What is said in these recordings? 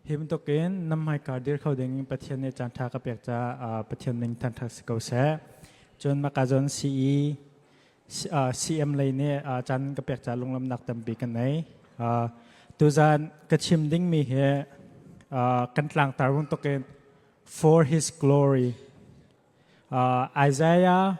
Hi bantukin nan hmaikar dir kho ding in Pathian nih caanṭha ka pek caah Pathian ning thangṭhat si ko seh. Cun Makazon CE CM lei nih caan ka pek caah lunglamnak tampi ka nei. Tuzaan ka chim dingmi hi kan tlangtar bantukin for his glory. Isaiah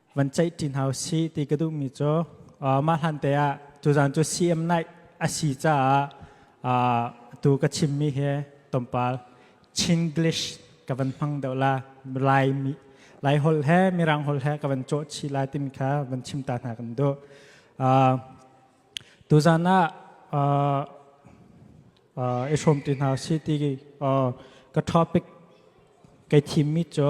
van ceih ṭin hau si ti ka duhmi cu mah hlante ah tuzan cu CM Night a si caah tu ka chimmi hi tompal Chinglish ka van hmang deuh la Laimi Lai hol he Mirang hol he ka van cawh chih lai timi kha van chim ta hna kan duh tuzan ah i hrawm ti hna si ti ka topic kai thimmi cu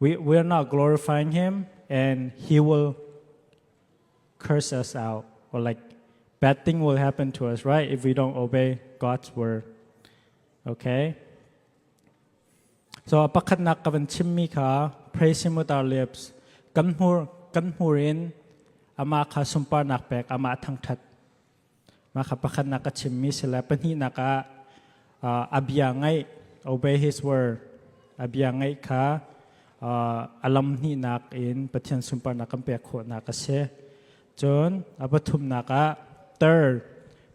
We, we are not glorifying him and he will curse us out or like bad thing will happen to us, right? If we don't obey God's word. Okay? So pakhatnak ka van chimmi kha praise him with our lips. Kan hmur kan hmur in ama kha sunparnak pek, ama thangthat Mah kha pakhatnak ka chimmi si le pahnihnak ah uh, a bia ngaih obey his word a bia ngaih kha uh, a lam hnihnak in Pathian sunparnak kan pek khawhnak a si. Cun a pathumnak ah third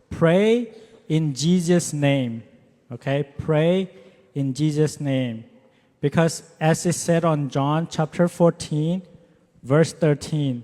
pray in Jesus name okay pray in Jesus name because as is said on John chapter 14 verse 13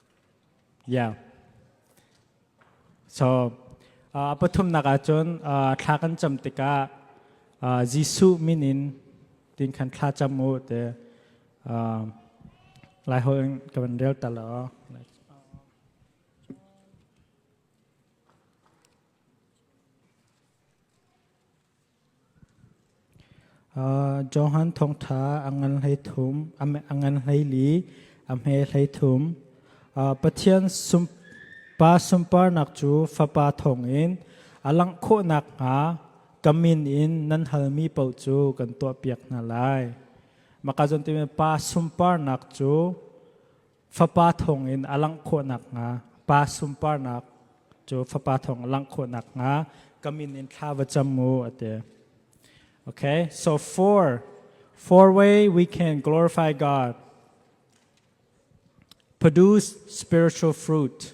Yeah. So uh, pathumnak ah cun uh, thla kan cam tikah uh, Jesuh min in tin kan thla cam u te uh, lai ho in kan rel ta lo. Johan thawngṭha a ngan hleithum, a ngan hleili, a hme hleithum. Pathian pa sunparnak cu Fapa thawngin a langh khawh nakhnga ka min in nan halmi paoh cu kan tuahpiak hna lai. Mah ka zawn timi pa sunparnak cu Fapa thawngin a langh khawh nakhnga, pa sunparnak cu fapa thawng a langh khawh nakhnga ka min in thla va cam u a ti. Okay, so four four way we can glorify God produce spiritual fruit.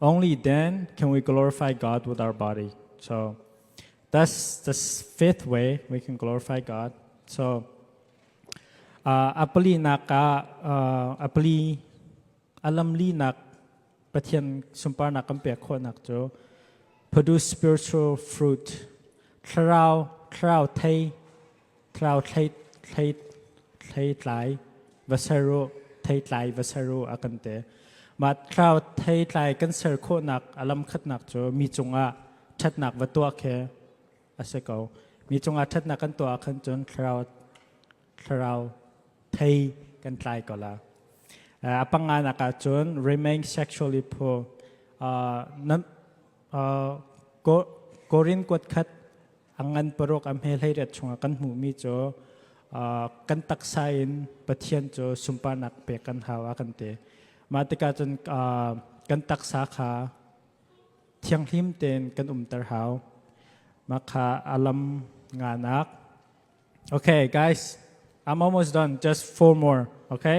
Only then can we glorify God with our body. So that's the fifth way we can glorify God. So uh, a pali nak ah uh, a pali alam li nak pathian sumpar nak kan pek khawh nak cu produce spiritual fruit thlarau thlarau thei Tlau thleih, thleih, thleitlai, va ser u, theitlai, va ser u a kan ti. Mah tlau theitlai kan ser khawhnak a lamkhatnak cu mi cungah ṭhatnak va tuah khi a si ko. Mi cungah ṭhatnak kan tuah ahkhan cun thlarau thlarau thei kan tlai ko la. Uh, a panganak ah cun remain sexually poor. Uh, nan, uh, Korin kuat khat angan paruk a hme hleirat chungah kan hmuhmi cu kan taksa in pathian cu sunparnak pek kan hau a kan te mah tikah cun kan taksa kha thianghlim tein kan umter hau mah kha alam nganak okay guys i'm almost done just four more okay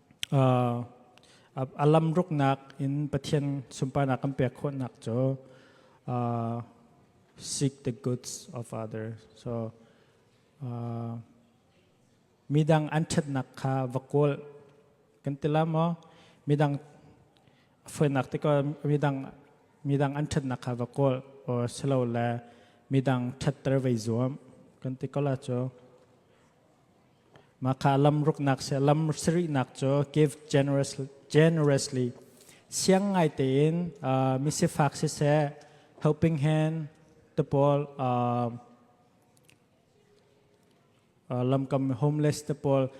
a lamruknak in Pathian sunparnak kan pek khawhnak cu seek the goods of others. So midang an ṭhatnak kha va kawl kan ti la maw midang foinak te ko midang midang an ṭhatnak kha va kawl or silo le midang ṭhatter vai zuam kan ti ko la cu Mahka lam ruknak se lam sarihnak cu give generous, generously siang ngai tein uh, misifak siseh helping hand to paul uh, uh, lamkam homeless te pawl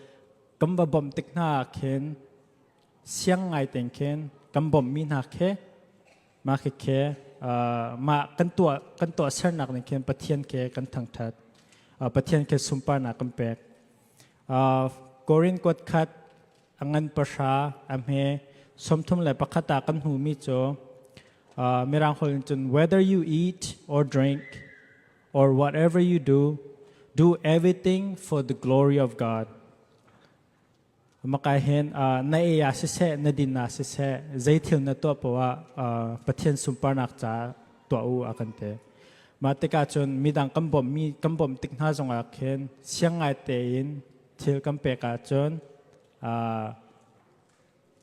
kam va bom tik hna khin siang ngai ten khin kam bom mi hna khe Mah khekhe mah kan tuah kan tuahsernak nih khin Pathian ke kan thangthat. Pathian ke sunparnak kan pek. Korin kuat khat angan pahra ahme sawmthum le pakhat ah kan hmu mi cu Mirang holh in cun whether you eat or drink or whatever you do do everything for the glory of God. Makahin na ei ah siseh na din ah siseh zeithil na tuah poh ah Pathian sunparnak ca tuah u a kan ti. Mah tikah cun midang kan bawmmi kan bawmh tik hna zongah khin siang ngai tein thil kan pek ahcun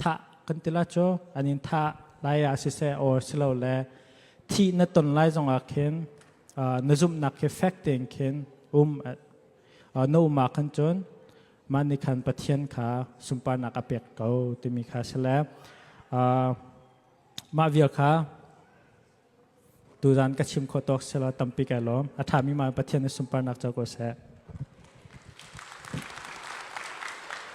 thah kan ti la cu an in thah lai ah siseh or silo le thi na ton lai zong ah khin na zumhnak hi fek tein khin um na uma khan cun mah nih khan pathian kha sunparnak a pek ko timi kha si le mah vial kha tu zan ka chim khawh tawk sela tampi ka lawm a ṭhami ma pathian na sunparnak ca ko seh